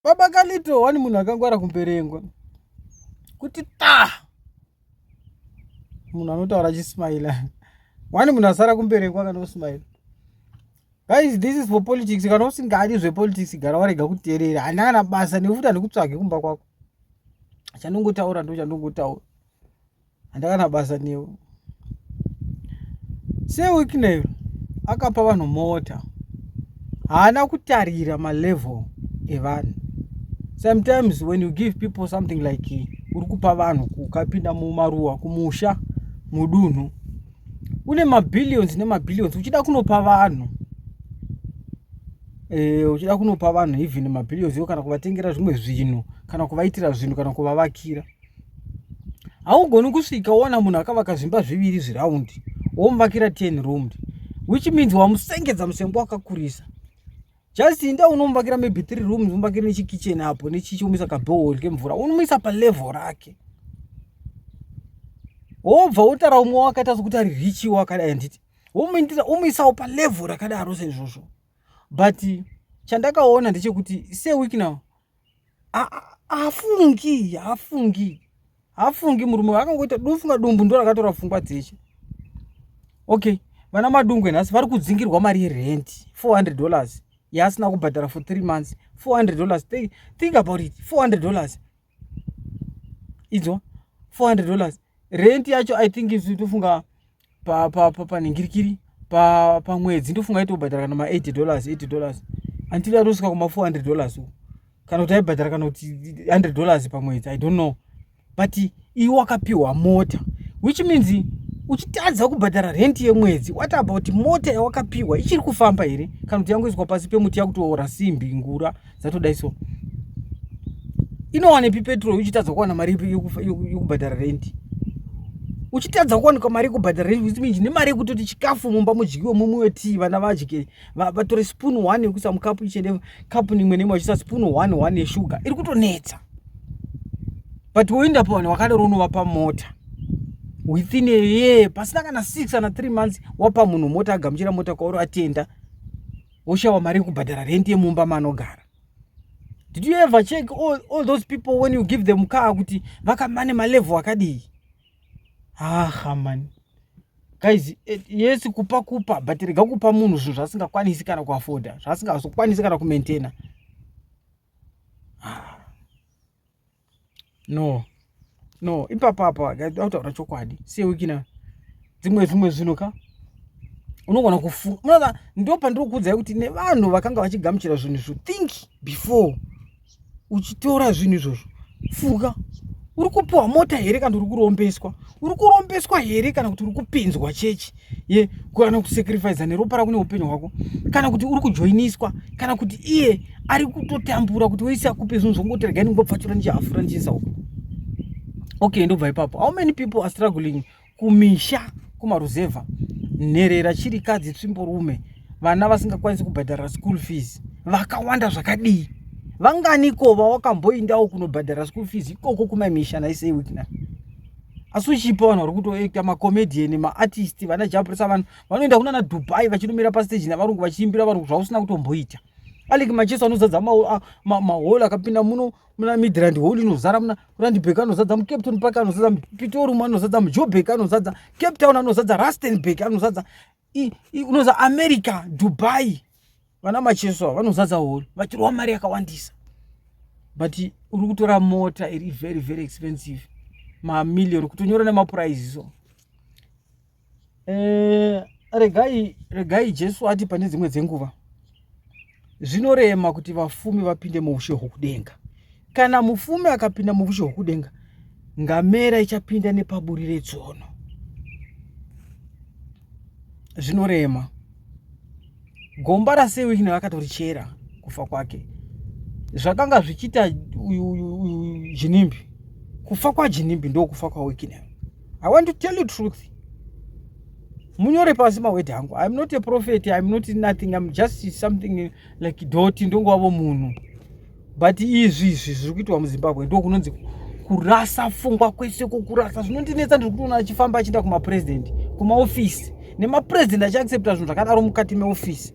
baba kalito wani munhu akangwara kumberengwa kuti ta munhu anotaura achismaila wani munhu asara kumberengwa kana usmaila guys this is for politics kana usingadi zvepolitics gara warega kuterera hana kana basa nekuti handikutsvage kumba kwako chandongotaura ndo chandongotaura handakana basa newe sewicknel akapa vanhu mota haana kutarira malevel evanhu sometimes when you give people something like uri kupa vanhu kukapinda mumaruwa kumusha mudunhu une mabillions nemabillions uchida kunopa vanhu e, uchida kunopa vanhu even mabillions yo kana kuvatengera zvimwe zvinhu kana kuvaitira zvinhu kana kuvavakira haugoni kusvika woona munhu akavaka zvimba zviviri zviraundi womuvakira ten roomed which means wamusengedza musengo wakakurisa just inda unomuvakira maybe three rooms umuvakire nechikichen apo nechichiomisa kabohol kemvura unomuisa palevel rake wobva wotara umwe wakaita sokuti ari richi wakadai handiti womuindira womuisawo palevel rakadaro seizvozvo but chandakaona ndechekuti seweek now hafungi hafungi hafungi murume vakangoita dofunga dumbu ndo rakatora pfungwa dzeshe okay vana madungwe nhasi vari kudzingirwa mari yerent 400 dollars yaasina kubhadhara for three months 400 dollars think, think about it 400 dollars idzo 400 dollars rent yacho i think isu tofunga pa pa pa panhingirikiri pa pamwedzi ndofunga aitobhadhara kana ma 80 dollars 80 dollars until atosvika kuma 400 dollars uko kana kuti aibhadhara kana kuti 100 dollars pamwedzi i don't know but iwe wakapiwa mota which means uchitadza kubhadhara rent yemwedzi what about mota yawakapiwa ichiri kufamba here kana kuti yangoiswa pasi pemuti yakutoora simbi ngura dzatodai so inowanepi petrol uchitadza kuwana mari yekubhadhara rendi uchitadza kuwanikwa mari yekubhadhara rendi which means nemari yekutoti chikafu mumba mudyiwe mumwe wetii vana vadye vatore spoon one yekuisa mukapu ichende kapu nimwe nemwe vachiisa spoon one one yeshuga iri kutonetsa but woenda pavanhu wakadaro unovapa mota within a year pasina kana six kana three months wapa munhu mota agamuchira mota kwauri atenda oshawa mari yekubhadhara rendi yemumba maanogara did you ever check all, all those people when you give them car kuti vakamane malevel akadii ahamani guys eh, yes kupa kupa but rega kupa munhu zvinhu zvaasingakwanisi kana kuafoda zvaasingazokwanisi kana kumaintaina no no ipapo apo autaura chokwadi sewikina dzimwe zvimwe zvinhu ka unogona kufunga munoona ndo pandiri kukuudzai kuti nevanhu vakanga vachigamuchira zvinhu izvo think before uchitora zvinhu izvozvo funga uri kupiwa mota here kana uri kurombeswa uri kurombeswa here kana kuti uri kupinzwa chechi ye kana kusacrifice neropa rako neupenyu hwako kana kuti uri kujoiniswa kana kuti iye ari kutotambura kuti wese akupe zvinhu zvongoti regai ndingopfatura ndichiafura ndichiisa uko okay ndobva ipapo how many people are struggling kumisha kumaruzevha nherera chirikadzi tsvimborume vana vasingakwanisi kubhadhara school fees vakawanda zvakadii vanganiko vawakamboindawo kunobhadhara school fees ikoko kumamisha naisei wikna asi uchipa vanhu vari kutoekta macomedian maartist vana japrisa vanhu vanoenda kunana dubai vachinomira pasteji navarungu vachiimbira varungu zvausina kutomboita aleki macheso anozadza mahol akapinda muno muna midland hol inozara muna randbek anozadza mucapton park anozadza pitorium anozadza mujobek anozadza cape town anozadza rustenbek anozadza unoza america dubai vana macheso ava vanozadza hori vachirova mari yakawandisa but uri kutora mota iri very very expensive mamillion kutonyora nemapurize so eh, regai regai jesu ati pane dzimwe dzenguva zvinorema kuti vafumi vapinde muushe hwokudenga kana mufumi akapinda muushe hwokudenga ngamera ichapinda nepaburi retsono zvinorema gomba rasewikina vakatorichera kufa kwake zvakanga zvichiita uyu jinimbi kufa kwajinimbi ndokufa kwawikina i want to tell you truth munyore pasi mawedhi hangu iam not a prophet iam not nothing iam just something like doti ndongowavo munhu but izvi izvi zviri kuitwa muzimbabwe ndo kunonzi kurasa fungwa kwese kokurasa zvinondinetsa ndiri kutoona achifamba achienda kumapurezidendi kumaofisi nemapurezidendi achiaccepta zvinhu zvakadaro mukati meofisi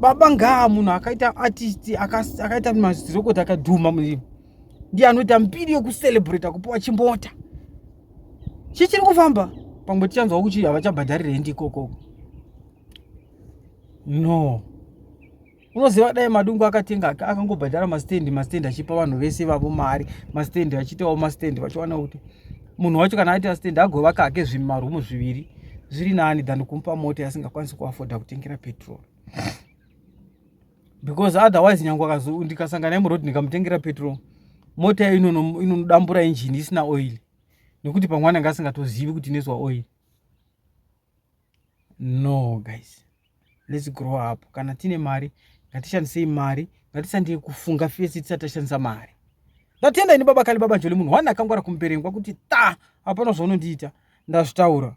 baba ngaa munhu akaita artist akaita mazirokoti akadhuma muzvino ndiye anoita mbiri yokucelebrata kupiwa chimbota chichiri kufamba pamwe tichanzwa kuchi havachabhadharira hendi ikoko no unoziva dai madungu akatenga akangobhadhara mastendi mastendi achipa vanhu vese vavo mari mastendi achiitawo mastendi vachiwana kuti munhu wacho kana aita stand agovaka hake zvimarumu zviviri zviri nani than kumupa mota yasingakwanisi kuafoda kutengera petrol because otherwise nyange ndikasangana yemuroad ndikamutengera petrol mota yayo inonodambura injini isina oil nekuti pamwe anenge asingatozivi kuti inoiswa oil no guys let's grow up kana tine mari ngatishandisei mari ngatisandei kufunga fesi tisati tashandisa mari ndatenda ini baba kali baba njoli munhu wani akangwara kumuperengwa kuti ta hapana zvaunondiita ndazvitaura